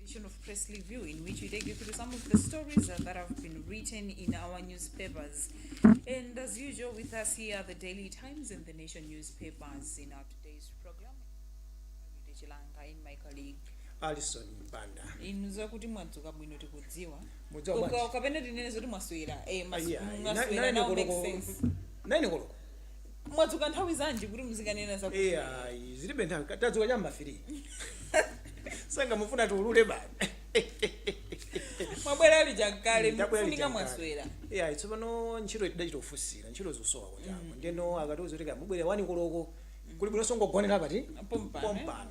edition of Press Review, in which we take you through some of the stories uh, that have been written in our newspapers. And as usual, with us here are the Daily Times and the Nation newspapers in our today's program. I'm Yude Chilanga and my colleague. alison mpanda inu zakuti mwadzuka bwino tikudziwa Mudzuka Uka- bwanji? ukapena tinene zoti mwaswera eh, mas- Ayi, ayi. mwaswera, Na- nine now makes koloko- sense. nine koloko mwadzuka nthawi zanji kuti muzikanena za Eh, ayi zilibe nthawi Ka- tadzuka cha m'ma 3 sanga mufuna tiulule bani mwabwera ali chakale Ndabwera mufunika lichakale. mwaswera Eh, ayi tsopano ntchito idachita kufusira ntchito zosowa kwachamba ndeno akatiuza kuti kamubwera wani koloko kuli bwino songogonera pati Pompano, eh? pompano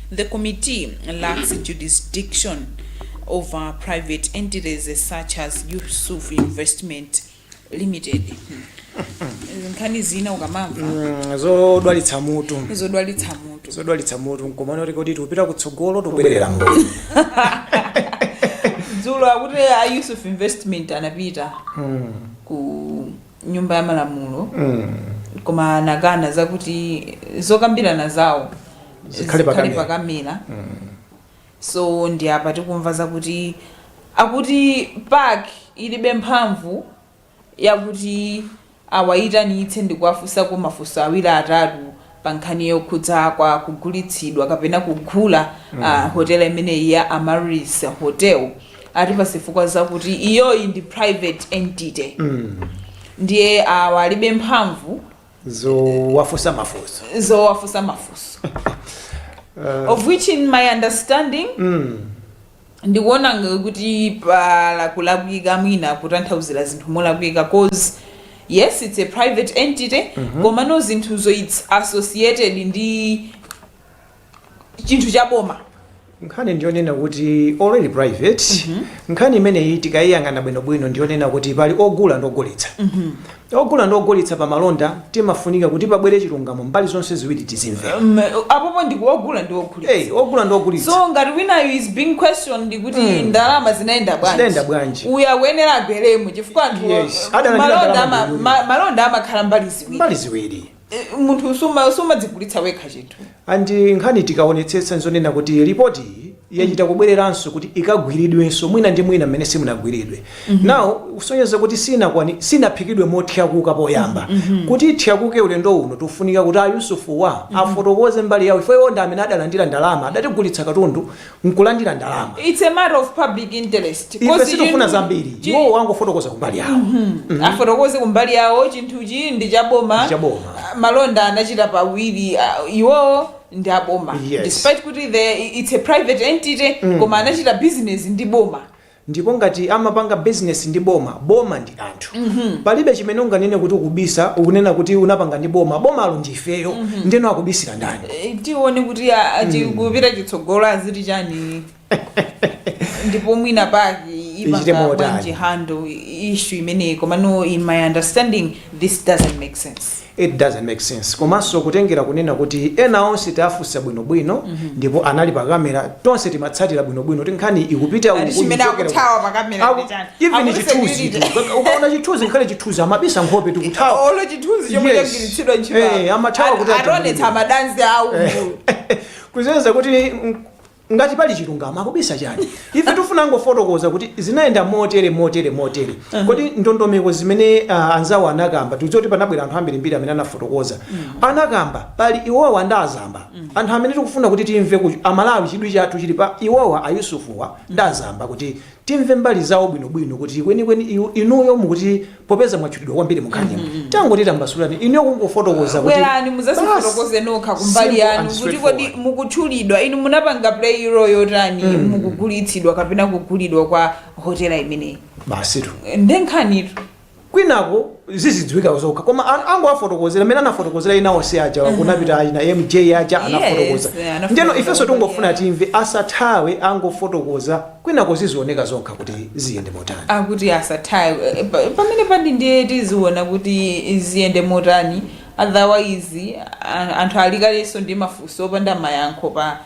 The committee lacks jurisdiction over private entities such as Yusuf Investment Limited. Nkhani zina ukamamva Mm, zodwalitsa mutu zodwalitsa mutu. zodwalitsa mutu komano oti kuti tikupita kutsogolo tikubwerera m'mbuyo Dzulo akuti a Yusuf Investment anapita ku nyumba ya malamulo koma anakana zakuti zokambirana zawo Zikhale pakamera. pakamera so ndi apa tikumva zakuti akuti PAC ilibe mphamvu yakuti awayitanitse ndikuwafunsako mafunso awiri atatu pa nkhani yokhudza kwa kugulitsidwa kapena kugula hotela imeneyi ya Amaryllis Hotel ati pa zifukwa zakuti iyoyi ndi private entity ndiye awa alibe mphamvu zowafunsa mafunso zowafunsa mafunso of which in my understanding ndikuona ng- kuti pali kulakwika mwina kutanthauzira zinthu molakwika cause yes it's a private entity komano zinthuzo it's associated ndi chinthu cha boma nkhani ndiyonena kuti already private nkhani imeneyi tikayiyang'ana bwinobwino ndiyonena kuti pali ogula ndi ogulitsa Ogula ndi ogulitsa pa malonda timafunika kuti pabwere chilungamo mbali zonse ziwiri tizimve. M, Apopo ndi kwa ogula ndi ogulitsa. A, Ogula ndi ogulitsa. So ngati winayu is being questioned kuti Mm. ndalama zinayenda bwanji. Zinayenda bwanji. Uyu akuyenera abweremo chifukwa anthu Yes, adalandira ndalama ama- ndi uyu. ma- malonda amakhala mbali ziwiri. Mbali ziwiri. Eh, munthu suma- sumadzigulitsa wekha chinthu and nkhani tikaonetsetsa nzonena kuti ripoti iyi yachita kubwereranso kuti ikagwiridwenso mwina ndi mwina mmene simunagwiridwe now kusonyeza kuti sinakwani- sinaphikidwe mothyakuka poyamba kuti ithyakuke ulendo uno tifunika kuti a Yusufuwa afotokoze mbali yawo ife iwo ndi amene adalandira ndalama adatigulitsa katundu nkulandira ndalama It's a matter of public interest. ife Because sitifuna you- zambiri chi- iwowo angofotokoza kumbali yawo afotokoze kumbali yawo chinthuchi ndi chaboma Ndi chaboma. Ah, malonda anachita pawiri ah, iwowo ndi aboma Yes. despite kuti the it's a private entity koma anachita business ndi boma Ndipo ngati amapanga business ndi boma, boma ndi anthu. Palibe chimene unganene kuti ukubisa, ukunena kuti unapanga ndi boma, bomalo ndi ifeyo. Ndeno akubisira ndani? Eh, tione kuti a- a- tikupita chitsogolo aziti chani ndipo mwina PAC Ichite ipanga motani. bwanji handle issue imeneyi komano in my understanding this doesn't make sense it doesn't make sense komanso kutengera kunena kuti ena onse taafunsa bwinobwino ndipo anali pa kamera tonse timatsatira bwinobwino kuti nkhani ikupita Ati uku, chimene ikupita akuthawa uku. pa kamera Aku- ndi chani? even Akuti chithunzi security. ukaona chithunzi nkhale chithunzi amabisa nkhope tikuthawa olo chithunzi chomwe Yes. chagwiritsidwa Eh, amathawa kuti ationetsa atambuke. madansi awo kuzeza kuti mm, Ngati pali chilungamo akubisa chani? Ife tifuna angofotokoza kuti zinayenda motere motere motere. Kodi ndondomeko zimene ah, anzawo anakamba tikudziwa kuti panabwera anthu ambirimbiri amene anafotokoza anakamba pali iwowa ndi azamba anthu amene tikufuna kuti timve kuti amalawi chidwi chathu chili pa iwowa ayusufuwa ndi azamba kuti timve mbali zawo bwinobwino kuti kwenikweni iwo- inuyo mukuti popeza mwatchulidwa kwambiri mukhanimu tangoti tambasulani inuyo kungofotokoza kuti bwerani basi. muzazifotokoze nokha kumbali Simple yanu and kuti kodi straightforward. mukutchulidwa inu munapanga play role yotani mukugulitsidwa kapena kugulidwa kwa hotela imeneyi basitu ndenkhanitu kwinako zizidziwika zokha koma an- angowafotokozera amene anafotokozera ena onse aja kunapita ayi a MJ aja anafotokoza anafotokoza. ndeno ifenso tingofuna timve asathawe angofotokoza kwinako zizioneka zokha kuti ziyende motani akuti asathawe Eh, pa- pamene pandi ndiye tiziona kuti ziyende motani otherwise a- anthu alikadali ndi mafunso opanda mayankho pa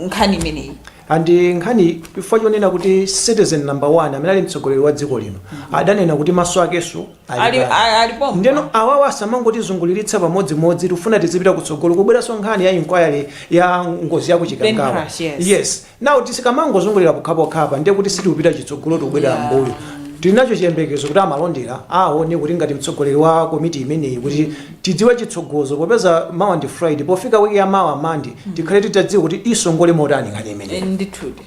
nkhani imeneyi and nkhani chifukwa chonena kuti citizen number one amene ali mtsogoleri wa dziko lino adanena kuti maso akenso ali ali pano. a- ali pompo ndeno awawa asamangotizunguliritsa pamodzimodzi tikufuna tizipita kutsogolo kubweranso nkhani ya inquiry ya ngozi ya kuchikangawa Plane crash, yes. yes Now tizikamangozungulira pokhapokhapa ndiye kuti sitikupita chitsogolo tikubwelera mmbuyo. Tili nacho chiyembekezo kuti a Malondera aone kuti ngati mtsogoleri wa komiti imeneyi kuti tidziwe chitsogozo popeza mawa ndi Friday pofika week ya mawa Monday tikhale titadziwa kuti isongola motani nkhani Eh, imeneyi. ndithudi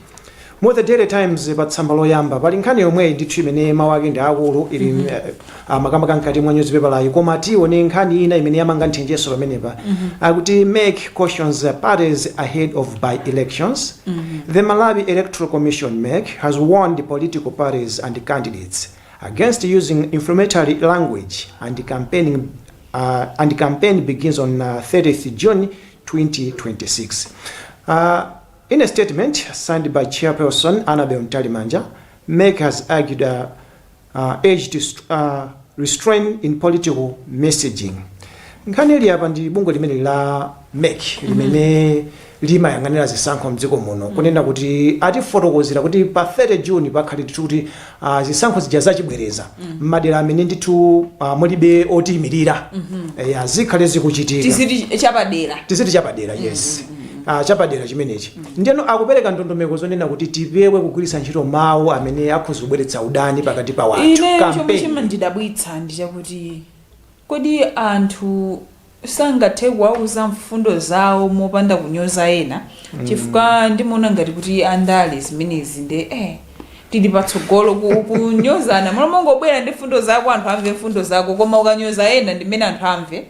Mu the Daily Times pa tsamba loyamba pali nkhani yomweyi ndithu imene mawu ake ndi akulu ili eh, a makamaka mkati mwa nyuzipepalayi koma tione nkhani ina imene yamanga nthenjeso pamenepa akuti mec cautions parties ahead of by elections the malawi electoral commission mec has warned political parties and candidates against using inflammatory language and campaigning uh, and campaign begins on uh, 30th June 2026. Uh, in a statement signed by Chairperson Annabel Ntalimanja, MEC has argued uh, urged restraint in political messaging nkhani ili apa ndi bungwe limene la mec limene limayang'anira zisankho mdziko muno kunena kuti atifotokozera kuti pa 30 June pakhale ndithu kuti uh, zisankho zija zachibwereza m'madera amene ndithu uh, mulibe otiyimirira Eh, zikhale zikuchitika tiziti chapadera tiziti chapadera yes Ah, chapadera chimenechi Ndiyeno akupereka ndondomeko zonena kuti tipewe kugwiritsa ntchito mawu amene akhoza kubweretsa udani pakati pa wanthu. Ineyo chomwe Campaign. chimandidabwitsa ndi chakuti kodi anthu sangathe kuwauza mfundo zawo mopanda kunyoza ena chifukwa ndimaona ngati kuti andale zimenezi nde eh tili patsogolo ku- kunyozana mmalo mongobwera ndi mfundo zako anthu amve mfundo zako koma ukanyoza ena ndimene anthu amve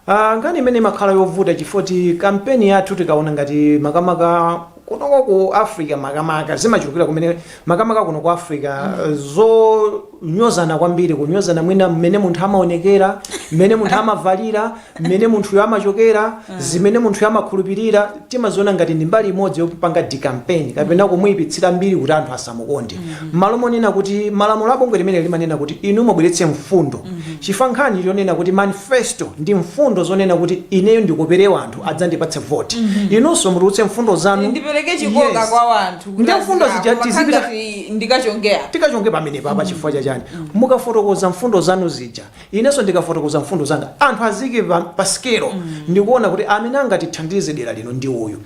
Ah, nkhani imene imakhala yovuta chifoti kampeni yathu tikaona ngati makamaka kunoko ku africa makamaka zimachulukira kumene makamaka kuno ku africa eh, zonyozana kwambiri kunyozana mwina mmene munthu amaonekera mmene munthu amavalira mmene munthuyo amachokera zimene munthuyo amakhulupirira timaziona ngati ndi mbali imodzi yopanga decampaign kapena kumuyipitsira mbiri kuti anthu asamukonde mmalo monena kuti malamulo a bungwe limeneli limanena kuti inu mubweretse mfundo chifukwa nkhani yonena kuti manifesto ndi mfundo zonena kuti ineyo ndikopere wanthu adzandipatse voti inunso mutulutse mfundo zanu ndipereke chikoka Yes. kwa wanthu kuti Ndi mfundo azina- zija koma tizipita- kaya ngati ndikachongera tikachonge pamenepo apa chifukwa chachani mukafotokoza mfundo zanu zija Inenso ndikafotokoza mfundo zanga anthu azike pa, pa sikelo ndikuona kuti amene angatithandize dera lino ndi uyu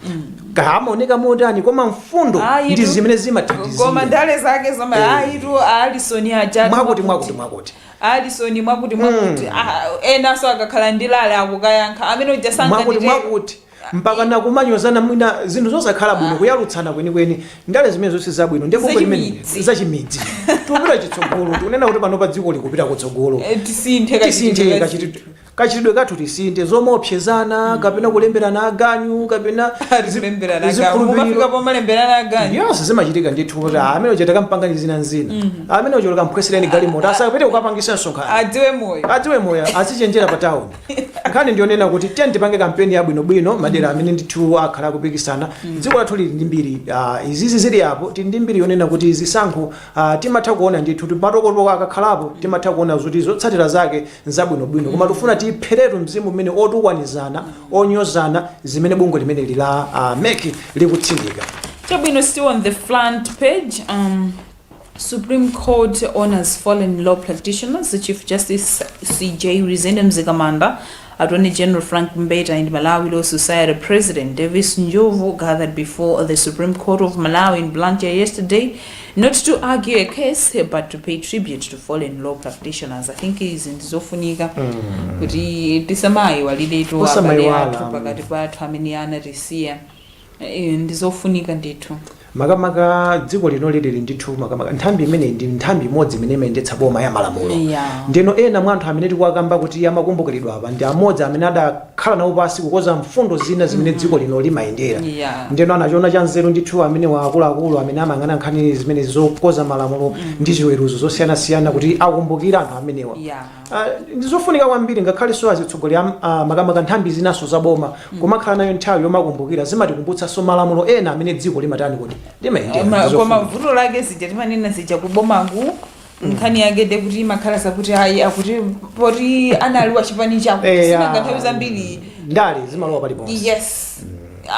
kaya amaoneka motani koma mfundo ndi zimene koma zimathandizira ndale zake zoma Eh. ayitu alisoni ajatu mwakuti mwakuti mwakuti alisoni mwakuti mwakuti Ah, enanso akakhala ndi rally akukayankha amene uja mwakuti sanganite mwakuti mpaka nakumanyozana mwina zinthu zosakhala bwino ah. kuyalutsana kwenikweni ndale zimenezo si zabwino nde bungwe limene zachimidzi tikupita chitsogolo tikunena kuti pano pa dziko likupita kutsogolo eh, tisinthe kachitidwe kathu tisinthe zomaopsezana mm. kapena kulemberana aganyu kapena zikhulupiriyonse zimachitika ndithu kuti mm. amene uja takampangani zina nzina mm. amene uja mukamphwanyireni galimoto asapite kukapangitsa msonkhano adziwe moyo azichenjera pa tawuni nkhani ndiyonena kuti tiyeni tipange kampeni yabwinobwino madera amene ndithu akhala akupikisana dziko lathu lili ndi mbiri ah, izizi zili apo tili ndi mbiri yonena kuti zisankho ah, timatha kuona ndithu ti- matokotoko akakhalapo timatha kuona zoti zotsatira zake nzabwinobwino koma tifuna tipheretu mzimu umene wotukwanizana wonyozana zimene bungwe limeneli la ah, MEC likutsindika Chabwino still on the front page. Um, Supreme Court Honors Fallen Law Practitioners, Chief Justice CJ Lizende Mzikamanda, Attorney General Frank Mbeta and Malawi Law Society President Davis Njovu gathered before the Supreme Court of Malawi in Blantyre yesterday, not to argue a case, but to pay tribute to fallen law practitioners. I think izi ndizofunika kuti tisamayi walidetu abale Osamayiwala. athu pakati pathu amene anatisiya Eeh ndizofunika ndithu. Makamaka dziko linoli lili ndithu makamaka nthambi imeneyi ndi nthambi imodzi imene imayendetsa boma ya malamulo. Eya. Ndeno ena mwa anthu amene tikuwakamba kuti amakumbukiridwa apa ndi amodzi amene adakhala nawo pansi kukonza mfundo zina zimene dziko lino limayendera. Eya. Ndeno anachiona cha nzeru ndithu amenewa akuluakulu amene amayang'ana nkhani zimenezi zokonza malamulo ndi ziweruzo zosiyanasiyana kuti akumbukire anthu amenewa. Eya. Ah, ndi zofunika kwambiri ngakhalenso azitsogoleri am- ah, makamaka nthambi zinanso za boma kumakhala nayo nthawi yomakumbukira zimatikumbutsanso malamulo ena amene dziko limatani kuti limayendera Ma- Ndi koma zofunika. vuto lake zija timanena zija kubomaku nkhani yake nde kuti imakhala zakuti ayi akuti poti anali wa chipani chako Eh, sinanga ah, nthawi zambiri ndale zimalowa paliponse yes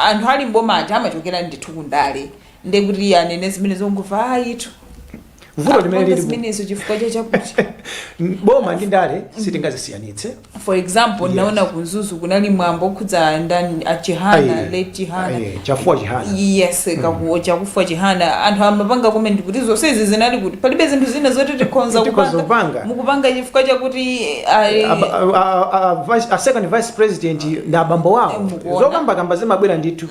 anthu ali m'bomatu amachokera ndithu kundale nde kuti iye anene zimene zonguva ayitu vuto limene Apange lilipo zimenezo chifukwa cha chakuti boma ndi ndale sitingazisiyanitse for example Yes. ndinaona ku Mzuzu kunali mwambo okhudza ndani a Chihana Aye. late Chihana Aye, Chakufwa Chihana yes kakuwo Chakufwa Chihana anthu amapanga comment kuti zonse izi zinali kuti palibe zinthu zina zoti tikhonza Tikhonza kupanga kupanga. mukupanga chifukwa chakuti ayi, Aba- a- a- a- vice- a second vice president ndi abambo wawo Mukuona. zokambakamba zimabwera ndithu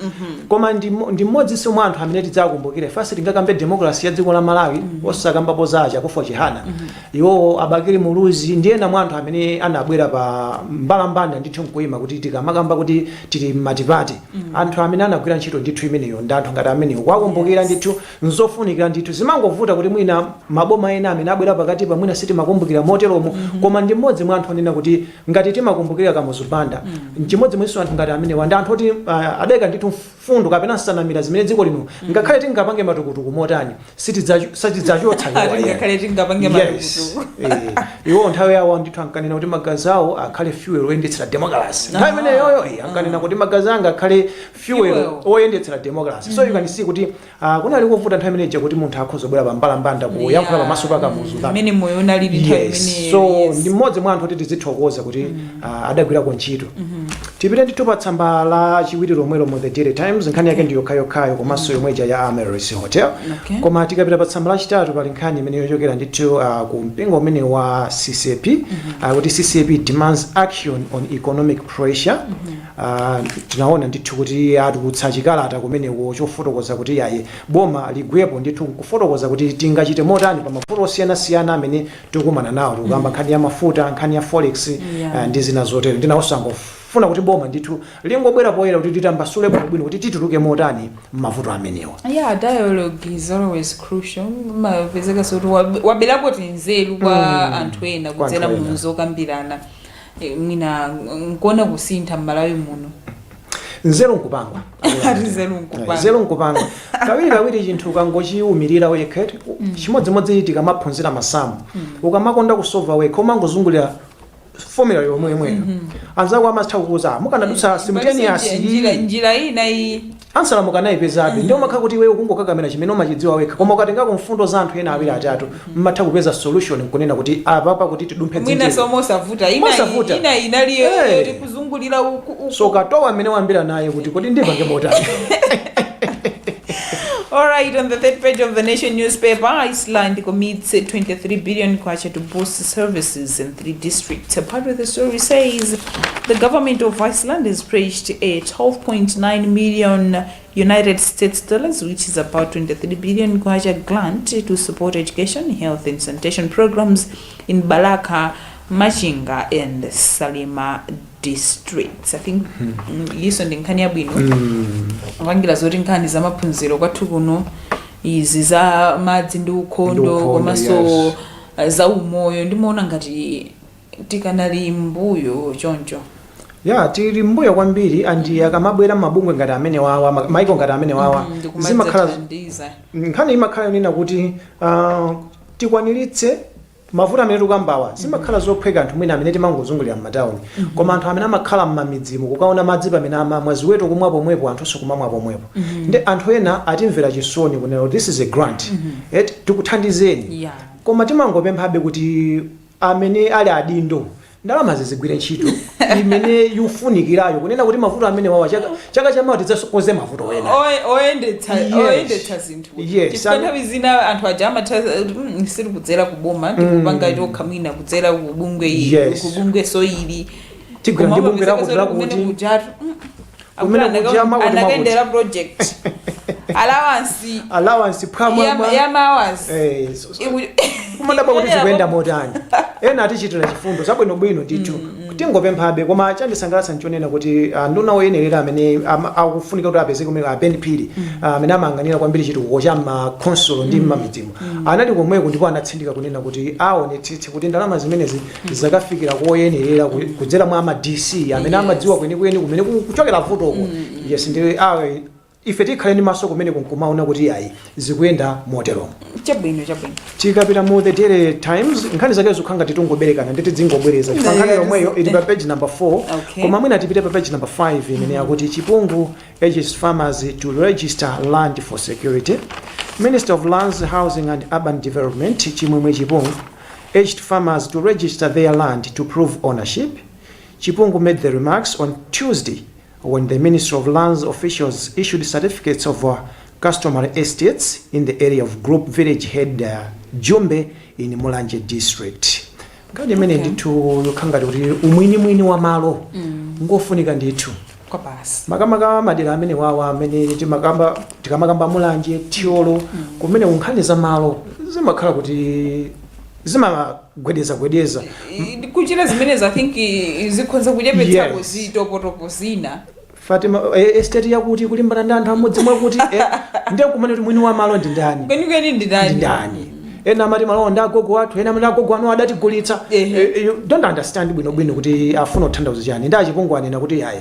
Koma ndi mmodzinso mwa anthu amene tidzakumbukire ifenso sitingakambe democracy ya dziko la Malawi osakambapo za a Chakufwa Chihana iwowo a Bakili Muluzi ndi ena mwa anthu amene anabwera pa mbalambanda ndithu nkuima kuti tikamakamba kuti tili m'matipate anthu amene anagwira ntchito ndithu imeneyo ndi anthu ngati amenewo kuwakumbukira Yes. ndithu nzofunikira ndithu zimangovuta kuti mwina maboma ena amene abwera pakatipa mwina sitimakumbukira moteromo koma ndi mmodzi mwa anthu onena kuti Ngati timakumbukira Kamuzu Banda, n'chimodzimodzinso anthu ngati amenewa ndi anthu oti ah, adaika ndithu mfundo kapena nsanamira zimene dziko lino ngakhale tingapange matukutuku motani sitidzacho- sitidzachotsa iwo ayi. Ngakhale tingapange Yes. matukutuku. Eh, iwo nthawi yawo ndithu ankanena kuti magazi awo akhale fuel oyendetsera democracy nthawi imeneyoyo eh, ankanena kuti magazi anga akhale fuel Fuel. oyendetsera democracy so you can see kuti Ah, kunali kuvuta nthawi imene ija kuti munthu akhoza kubwera pa mbalambanda kuyankhula Yeah, pamaso pa Kamuzu mm, mmene moyo unalili nthawi yes imeneyo, so yes. ndi mmodzi mwa anthu oti tizithokoza kuti ah, adagwirako ntchito tipite ndithu pa tsamba la chiwiri lomwelo mu the Daily Times nkhani yake ndi yokhayokhayo komanso yomwe ija ya Amaryllis Hotel Okay. koma tikapita pa tsamba lachitatu pali nkhani imeneyo yochokera ndithu uh, ku mpingo umene wa CCAP uh, kuti CCAP demands action on economic pressure Tinaona ndithu kuti atulutsa chikalata kumeneko chofotokoza kuti yayi, boma ligwepo ndithu kufotokoza kuti tingachite motani pa mavuto osiyanasiyana amene tikukumana nawo. Tikukamba nkhani ya mafuta, nkhani ya forex Yeah. ndi zina zotero. Nde nawonso angofuna kuti boma ndithu lingobwera poyera kuti litambasule bwinobwino kuti tituluke motani m'mavuto amenewa. Yeah, dialogue is always crucial. Umapezeka zoti wab- waberako tinzeru kwa anthu ena Kwa kudzera anthu mu ena. zokambirana. mwina nkuona kusintha m'Malawi muno nzeru nkupangwa Ati nzeru nkupangwa. nzeru nkupangwa kawiri kawiri chinthu ukangochiumirira wekha eti, chimodzimodzi tikamaphunzira masamu ukamakonda kusova wekha umangozungulira fomula yomweyomweyo anzako amatha kukuuza mukanadutsa simultaneous njira, njira ina iyi Ansala mukanaipezabe. Nde umakhala kuti iweyo ukungokakamira chimene umachidziwa wekha. Koma ukatengako mfundo za anthu ena awiri atatu, mmatha kupeza solution nkunena kuti apapa kuti tidumphe dzenje Mwinanso ili. mosavuta. Ina, Mosavuta. ina inali yo- Eh. yoti kuzungulira uku, uku. So katowa amene wayambira naye kuti kodi ndipange motani. All right, on the third page of the Nation newspaper, Iceland commits 23 billion kwacha to boost services in the district. A part of the story says the government of Iceland has pledged a 12.9 million United States dollars, which is about 23 billion kwacha grant to support education, health, and sanitation programs in Balaka, Machinga, and Salima districts. I think mm, yiso ndi nkhani yabwino kupangira zoti nkhani za maphunziro kwathu kuno izi za madzi ndi ukhondo Ndi ukhondo, komanso yes. zaumoyo ndimaona ngati tikanali mbuyo choncho ya tili mbuyo kwambiri and akamabwera mabungwe ngati amene wawa ma- maiko ngati amene wawa zimakhala ndikumadzathandiza nkhani imakhala yonena kuti ah, tikwaniritse mavuto amene tikukambawa zimakhala zophweka anthu mwina amene timangozungulira m'matawuni koma anthu amene amakhala m'mamidzimu kukaona madzi pamene amamwa ziweto kumwa pomwepo anthunso kumamwa pomwepo nde anthu ena atimvera chisoni kunena kuti this is a grant eti tikuthandizeni Yeah. koma timangopemphabe kuti amene ali adindo ndalama zizigwire ntchito imene ikufunikirayo kunena kuti mavuto amene wawa chaka, chaka chamawa tidzasokoze mavuto ena Oye- oyendetsa Yes. oyendetsa zinthu Yes, chifukwa and- nthawi zina anthu aja amatha "Mm, sili kudzera ku boma tikupanga tokha mwina kudzera ku bungwe ili Yes. ku bungwe so ili Tigwira ndi bungwe lakuti lakuti. Kumene kuja makuti makuti. anakendera project allowance allowance phwamwa ya- mwa- ya mabwana Eh, so- so- Iku- kumadabwa kuti Iku- zikuyenda motani ena atichitira chifundo zabwinobwino ndithu Tingopemphabe koma chandisangalatsa nchonena kuti ah, nduna oyenerera amene am- akufunika kuti apezeke kumene a Ben Phiri ah, amene amayang'anira kwambiri chitukuko cha makhonsolo ndi mmamidzimo anali komweko ndipo anatsindika kunena kuti aonetsetse kuti ndalama zimenezi zakafikira koyenerera ku- kudzera mwa ma DC amene amadziwa kwenikweni kumene ku- kuchokera vutoko yes ndi awe Ife tikhale ndi maso kumeneko nkumaona kuti iyayi zikuyenda moteromo. Chabwino, chabwino. Tikapita mu The Daily Times, nkhani zake zikukhala ngati tungoberekana ndi tidzingobwereza chifukwa Ndi- nkhani yomweyo ili pa page number 4 Okay. koma mwina tipite pa page number 5 imene yakuti Chipungu urges farmers to register land for security minister of lands housing and urban development Chimwemwe Chipungu urged farmers to register their land to prove ownership Chipungu made the remarks on Tuesday when the Ministry of Lands officials issued certificates of uh, customary estates in the area of Group Village Head uh, Jumbe in Mulanje District. Nkhani imene Okay. ndithu yokhala ngati kuti umwinimwini wa malo ngofunika ndithu kwa basi makamaka madera amene wawa amene timakamba tikamakamba Mulanje Thyolo kumeneku nkhani za malo zimakhala kuti zima gwedezagwedeza I- kuchita zimenezi i think i- i- zikhonza kuchepetsako Yes. zitopotopo zina fatima eh, estate yakuti kulimbana ndi anthu a mmudzi mwakuti eh, ndiye kumene kuti mwini wa malo ndi ndani kwenikweni ndi ndani ndindani ena amati malowa ndi agogo athu ena amati agogo anu adatigulitsa Ehe. Eh, you don't understand bwinobwino kuti afuna kuthandauza chani ndi a Chipungu anena kuti ayi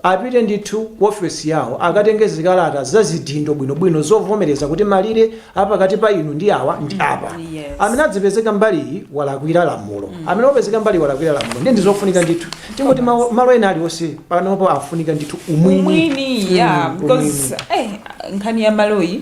apite ndithu ku ofesi yawo akatenge zikalata za zidindo bwinobwino zovomereza kuti malire a pakati pa inu ndi awa ndi apa. Yes. Amene adzipezeka mbali iyi walakwira lamulo. Amene wapezeka mbali iyi walakwira lamulo. Ndi ndizofunika ndithu. Tingoti malo malo ena aliwonse panopo afunika ndithu umwini. umwini ya Mm, because eh, nkhani ya maloyi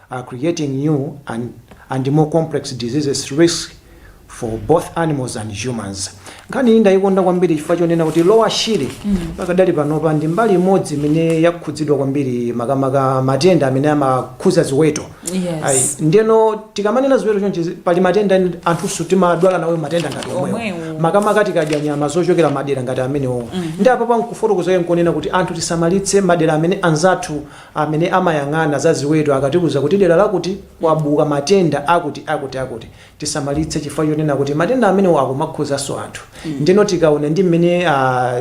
are creating new and and more complex diseases risks for both animals and humans. Nkhani iyi ndayikonda kwambiri chifukwa chonena kuti Lower Shire pakadali panopa ndi mbali imodzi imene yakhudzidwa kwambiri makamaka matenda amene amakhuza ziweto. Yes. Ayi, ndeno tikamanena ziweto chonchi pali matenda eni- anthuso timadwala nawo matenda ngati omwewo Omwewo. makamaka tikadya nyama zochokera madera ngati amenewo ndi apo akufotokoza nkonena kuti anthu tisamalitse madera amene anzathu Amene amayang'ana za ziweto akatiuza kuti dera lakuti kwabuka matenda akuti akuti akuti tisamalitse chifukwa chonena kuti matenda amenewo akumakhuzanso anthu ndeno tikaona ndi mmene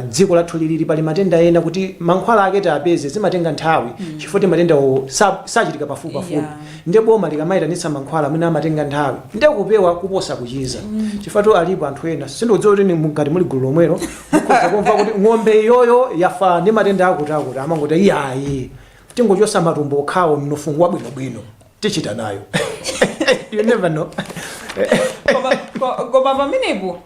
dziko lathu lilili pali matenda ena kuti mankhwala ake tiapeze zimatenga nthawi chifukwa ti matendawo sachitika pafupipafupi nde boma likamayitanitsa mankhwala mwina amatenga nthawi nde kupewa kuposa kuchiza chifukwa alipo anthu ena sindikudziwa kuti ngati muli gulu lomwero mukhoza kumva kuti ng'ombe iyoyo yafa ndi matenda akuti akuti amangoti iyayi tingochosa matumbo okhawo mnofuwu ngwabwinobwino tichita nayo you never know Koma- ko- koma pamenepo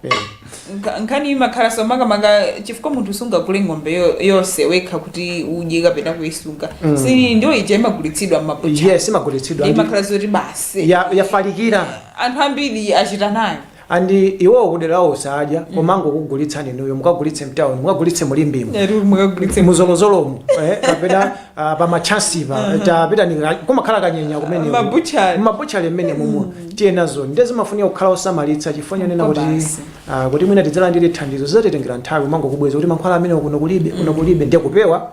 nka- nkhani imakhala so makamaka chifukwa munthu sungagule ng'ombe yo- yonse wekha kuti udye kapena kuyisunga si ndiyo ija imagulitsidwa mmabucha yes imagulitsidwa ndi- imakhala zoti basi ya- yafalikira anthu ambiri achita nayo and iwowo kudera lawo sadya mm. amangokugulitsani inuyo mukagulitse mtown mukagulitse mu Limbemo mu Zolozolomu eh, kapena ah, pamachansipa uh-huh. tapitani kumakhala kanyenya kumene m'mabutchale mmene mumu mm. tiye nazo nde zimafunika kukhala osamalitsa chifukwa chonena kuti ah, kuti mwina tidzalandire thandizo zidzatitengera nthawi amangokubweza kuti mankhwala amene kuno kulibe kuno mm. kulibe ndiye kupewa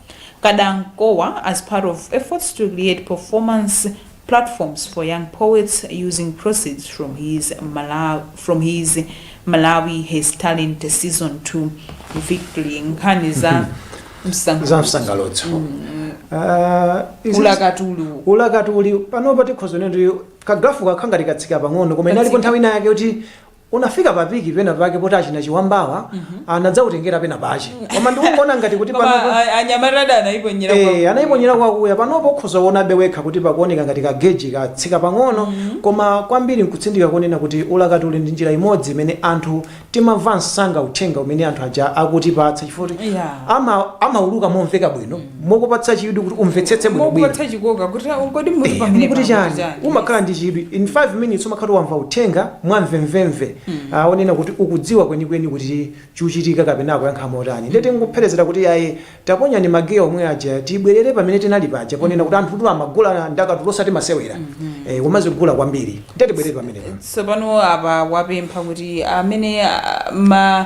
Kadankowa as part of efforts to create performance platforms for young poets using proceeds from his Malawi, from his Malawi has talent season 2 victory nkhani za za msango msangalutso Ah, izi- ulakatulu ulakatuli panopa tikhoza kuti kagrafu kakhala ngati katsika pang'ono koma inalipo Katsika. nthawi ina yake kuti Unafika pa peak pena pake poti achina chiwambawa anadzakutengera pena pache. Koma ndikuona ngati kuti Koma panopa a- anyamata ada anayiponyera kwa Eh, anayiponyera kwakuya panopo ukhoza kuonabe wekha kuti pakuoneka ngati kageji katsika pang'ono koma kwambiri nkutsindika konena kuti ulakatuli ndi njira imodzi imene anthu timamva msanga uthenga umene anthu aja akutipatsa chifukwa kuti Yeah. ama- amauluka momveka bwino mokupatsa chidwi kuti umvetsetse bwinobwino mokupatsa chikoka kuti "Ah, kodi Eh, mukuti pamene mukuti chani umakhala ndi chidwi in 5 minutes umakhala wamva uthenga mwamvemvemve Ah, konena kuti ukudziwa kwenikweni kuti chuchitika kapena akuyankha motani ndiye tingopherezera kuti ayi taponyani magiya omwe aja tibwerere pamene tinali paja ponena kuti anthutu amagula ndakatulo osati masewera Eh, umazigula kwambiri ndiye tibwerere pamenepo tsopano apa wapempha kuti amene ah, ma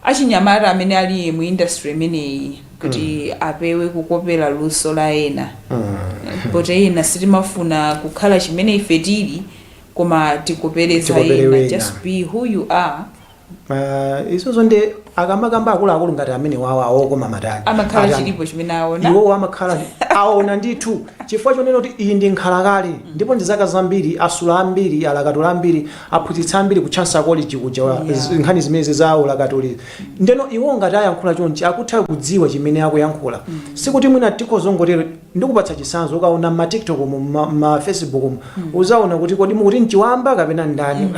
achinyamata amene ali mu industry imeneyi kuti apewe kukopera luso la ena poti ena sitimafuna kukhala chimene ife tili koma tikopere za Tikopere ena wena. just be who you are uh, izozo nde akamakamba akuluakulu ngati amenewawa a Okomaatani amakhala Atani. chilipo chimene aona iwowo amakhala aona ndithu chifukwa chonena kuti iyi ndi nkhalakale ndipo ndi zaka zambiri asula ambiri alakatula ambiri aphunzitsa ambiri ku Chancellor College kuja wa- Yeah. z- nkhani zimenezi za ulakatuli Ndeno iwo ngati ayankhula chonchi akutha kudziwa chimene akuyankhula sikuti mwina tikhoza kungotero ndikupatsa chisanzo ukaona mma tiktok mu mma mma facebook mu uzaona kuti kodi mukuti ndi Chiwamba kapena ndani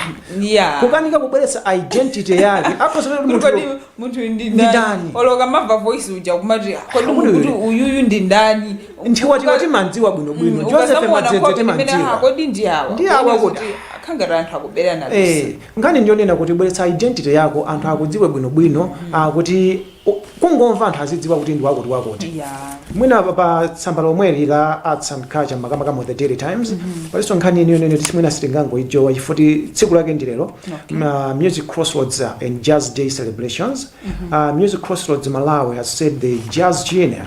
Yeah. kukanika kubweretsa identity yake akhoza kuti Kodi munthu munthu ndi Ndi ndani ndani? olo ukamva voice uja kumati "Ah, kodi Kodi munthu uyu?" uyuyu ndi ndani Chiwamba timandziwa bwino bwino Mm, joseph ukazamuona madzedze nkhope imene, "Ah, timandziwa kodi ndi awa Ndi awa Kuona kodi." kuti akhala ngati anthu akuberana Eh, Nkhani ndi yonena kuti bweretsa identity yako anthu akudziwe bwino bwino ah, kuti u- kungomva anthu azidziwa kuti ndi wakuti wakuti ya mwina pa- pa tsamba lomweli la arts and culture makamaka mu the daily times palinso nkhani ina yonena kuti mwina sitingangoijowa chifuti tsiku lake ndi lero Ma- music crossroads uh, and jazz day celebrations uh, music crossroads malawi has said the jazz genre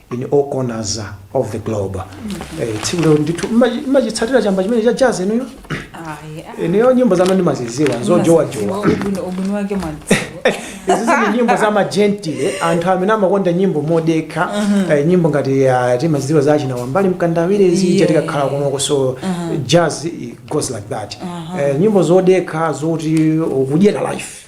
in all corners uh, of the globe Eh, tsiku lero ndithu mumachi- mumachitsatira chamba chimene cha jazz inuyo inuyo nyimbo zanu ndimaziziwa zojowajowa ubwino wake mwadziwa izi ndi nyimbo za magentle anthu amene amakonda nyimbo modekha eh, nyimbo ngati ah, timaziziwa za achina wambali mkandawire izi Yeah. chatikakhala kunoko so jazz it goes like that Eh, nyimbo zodekha zoti ukudyera life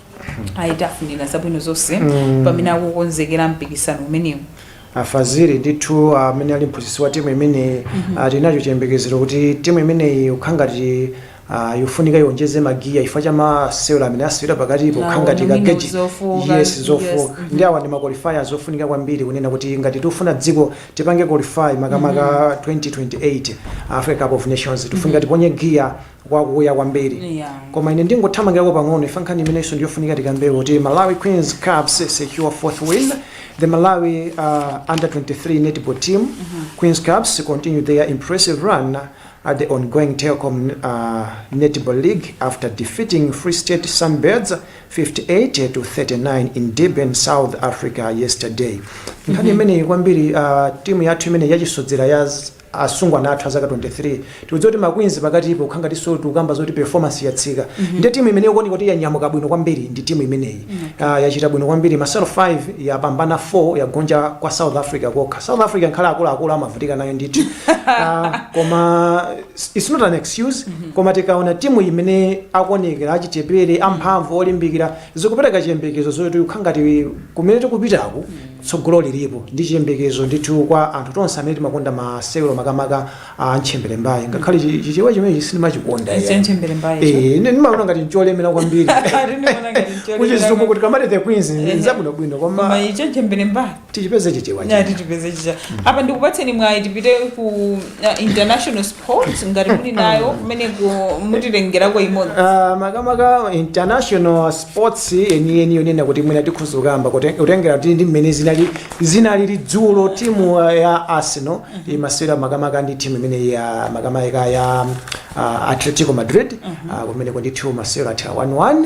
ayi tafunira zabwino zonse Mm. pamene akukonzekera mpikisano umenewu afaziri ndithu amene ali mphunzitsi wa timu imeneyi tili nacho chiyembekezero kuti timu imeneyi ukhangati ah, yofunika iwonjeze magiya chifukwa cha masewera amene asewera pakati pokhangati Nawo kageji nomino zofuka, yes yes, zofuka mhm. ndi awa ndi maqualifiers ofunika kwambiri kunena kuti ngati tifuna dziko tipange qualify makamaka 2028 africa cup of nations tifunika tiponye giya wakuya kwambiri Yeah. koma ine ndingothamangirako pang'ono chifukwa nkhani imenenso ndiyofunika tikambe kuti malawi queens cubs secure fourth win the malawi uh, under 23 netball team queens cubs continue their impressive run at the ongoing telkom uh, netball league after defeating free state sunbirds 58 to 39 in durban south africa yesterday nkhani imeneyi kwambiri uh, timu yathu imene yachisodzera ya asungwana athu azaka 23 tikudziwa kuti ma queens pakatipo kukhala ngatinso tikukamba zoti performance yatsika nde timu imene ikuoneka kuti yanyamuka bwino kwambiri ndi timu imeneyi Ah, yachita bwino kwambiri masewero 5 yapambana 4 yagonja kwa south africa kokha south africa ngakhale akuluakulu amavutika nayo ndithu Ah, koma it's not an excuse koma tikaona timu imene akuonekera achichepere amphamvu olimbikira zikupereka chiyembekezo zoti kukhala ngati kumene tikupitaku Tsogolo liripo ndi chiyembekezo ndithu kwa anthu tonse amene timakonda masewero makamaka a ntchemberembaye ngakhale chi- chichewa chimenechi sindimachikonda Ichi ya ntchemberembaye icho. Eh, ine ndimaona ngati ncholemera kwambiri Ndimaona ngati ncholemera kuchizungu kwambiri. kuti tikamati the queens Ehe. nzabwinobwino koma koma icho ntchemberembaye tichipeze chichewa nyati chija. tipeze chicha apa ndikupatseni mwayi tipite ku Uh, international sports ngati muli nayo kumeneko mutitengerako imodzi Ah, makamaka international sports yeniyeni yonena kuti mwina tikhoza kukamba kuti kutengera kuti ndi mmene zinali zinalili dzulo timu ah, ya arsenal imasewera makamaka ndi timu imene ya makamaka ya ah, atletico madrid Ah, kumeneko ndi timu masewera atha 11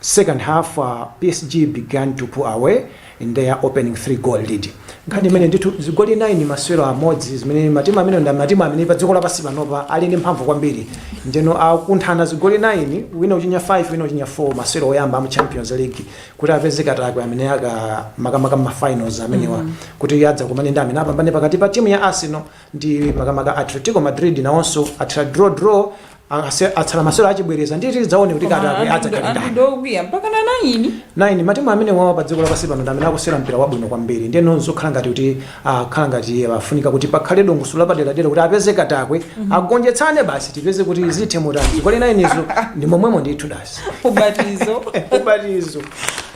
second half psg began to pull away in their opening 3 goal lead nkhani imene ndithu zigoli 9 masewero amodzi zimene matimu amene ndi matimu amene pa dziko lapansi panopa ali ndi mphamvu kwambiri ndeno akunthana zigoli 9 wina kuchinya 5 wina kuchinya 4 masewero oyamba amu champions league kuti apeze katakwe amene aka makamaka ma finals amenewa mm -hmm. kuti adzakumane ndi amene apambane pakati pa timu ya arsenal ndi makamaka atletico madrid nawonso atha draw draw Ase- atsala masewero achibwereza ndiye tidzaone kuti katakwe adzakhala ndani andidokwiya mpaka na nayini 9 matimu amenewawa pa dziko lapansi pano ndi amene akusewera mpira wabwino kwambiri ndiyeno zokhala ngati kuti akhala ngati afunika kuti pakhale dongosolo lapaderadera kuti apeze katakwe agonjetsane basi tipeze kuti zithe motani zigoli 9 izo ndi momwemo ndithu dasi ubatizo ubatizo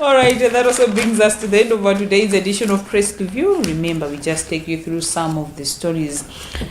All right, and that also brings us to the end of our today's edition of Press Review. Remember, we just take you through some of the stories